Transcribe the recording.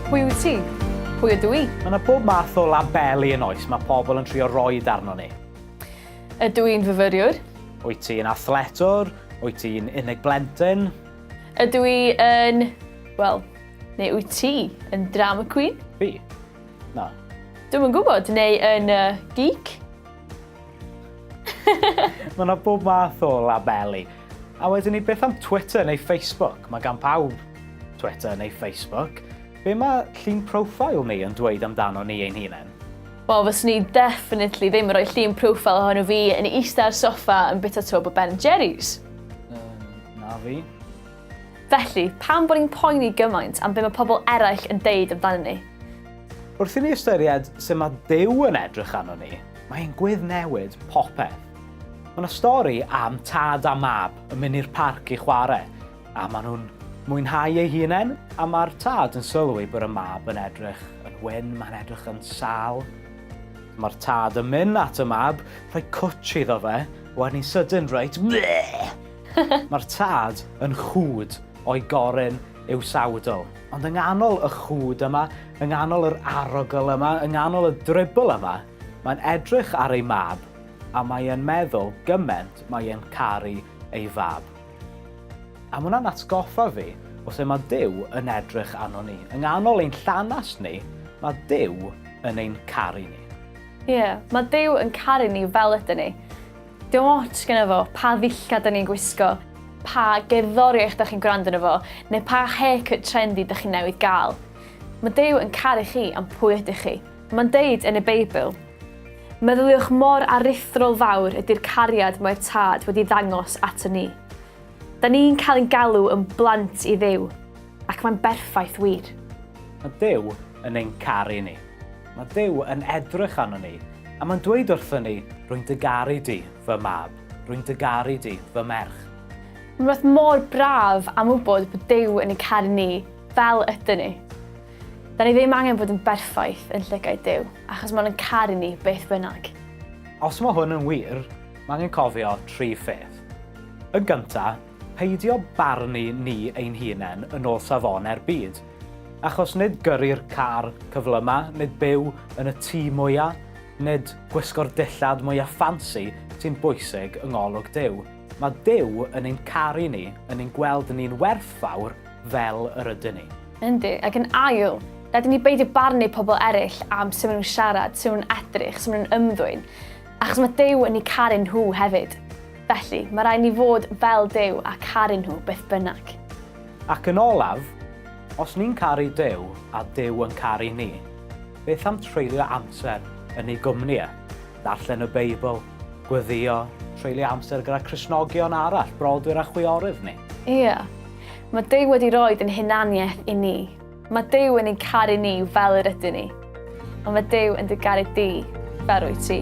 Pwy wyt ti? Pwy ydw i? Mae yna bob math o labeli yn oes, mae pobl yn trio roi darno ni. Ydw i'n fyfyriwr? Wyt ti'n athletwr? Wyt ti'n unig blentyn? Ydw i yn... Wel, neu wyt ti yn drama queen? Fi? Na. Dwi'n yn gwybod, neu yn uh, geek? Mae yna bob math o labeli. A wedyn ni, beth am Twitter neu Facebook? Mae gan pawb Twitter neu Facebook. Be mae llun profile ni yn dweud amdano ni ein hunain? Wel, fes ni definitely ddim yn rhoi llun profile ohono fi yn eista ar soffa yn bita twb o Ben Jerry's. Um, na fi. Felly, pam bod ni'n poeni gymaint am be mae pobl eraill yn deud amdanyn ni? Wrth i ni ystyried sut mae Duw yn edrych arno ni, mae e'n gweddnewid popeth. Mae yna stori am tad a mab yn mynd i'r parc i chwarae, a maen nhw'n mwynhau eu hunain, a mae'r tad yn sylwi bod y mab yn edrych yn wyn, mae'n edrych yn sâl. Mae'r tad yn mynd at y mab, rhoi cwtsh iddo fe, wedyn ni'n sydyn reit, Bleh! Mae'r tad yn chwd o'i goryn i'w sawdl. Ond yng nghanol y chwd yma, yng nghanol yr arogl yma, yng nghanol y dribl yma, mae'n edrych ar ei mab a mae e'n meddwl gyment mae e'n caru ei fab. A mae hwnna'n atgoffa fi o sut mae Duw yn edrych arno ni. Yng nghanol ein llanast ni, mae Duw yn ein caru ni. Ie, mae Duw yn caru ni fel ydyn ni. Dim ots gyda fo pa ddillad da ni'n gwisgo, pa gerddoriaeth da chi'n gwrando yno fo, neu pa haircut trendy da chi newydd gael. Mae Duw yn caru chi am pwy ydych chi. Mae'n deud yn y Beibl, Meddyliwch mor aruthrol fawr ydy'r cariad mae'r Tad wedi ddangos ato ni. Da ni'n cael ein galw yn blant i Dduw. Ac mae'n berffaith wir. Mae Duw yn ein caru ni. Mae Duw yn edrych arno ni, a mae'n dweud wrthon ni, Rwy'n dy garu di, fy mab. Rwy'n dy garu di, fy merch. Mae'n rhywbeth mor braf am wybod bod Duw yn ein caru ni fel ydyn ni. Da ni ddim angen bod yn berffaith yn llygaid Duw, achos mae'n yn caru ni beth bynnag. Os mae hwn yn wir, mae angen cofio tri pheth. Yn gyntaf, Peidio barnu ni ein hunen yn ol safone'r byd, achos nid gyrru'r car cyflyma, nid byw yn y tŷ mwya, nid gwisgo'r dillad mwya ffansi sy'n bwysig yng ngolwg Duw. Mae Duw yn ein caru ni, yn ein gweld ni'n werthfawr fel yr ydyn ni. Yndi, ac yn ail, rhaid i ni beidio barnu pobl eraill am sut maen nhw'n siarad, sut maen nhw'n edrych, sut maen nhw'n ymddwyn. Achos mae Duw yn eu caru nhw hefyd. Felly, mae rhaid ni fod fel Duw a caru nhw beth bynnag. Ac yn olaf, os ni'n caru Duw a Duw yn caru ni, beth am treulio amser yn ei gwmni e? Darllen y Beibl, gweddïo, treulio amser gyda Christnogion arall, brodwyr a chwiorydd ni. Ie. Mae Duw wedi rhoi ein hunaniaeth i ni. Mae Duw yn ein caru ni fel yr ydyn ni, ond mae Duw yn dy garu di fel rwy ti.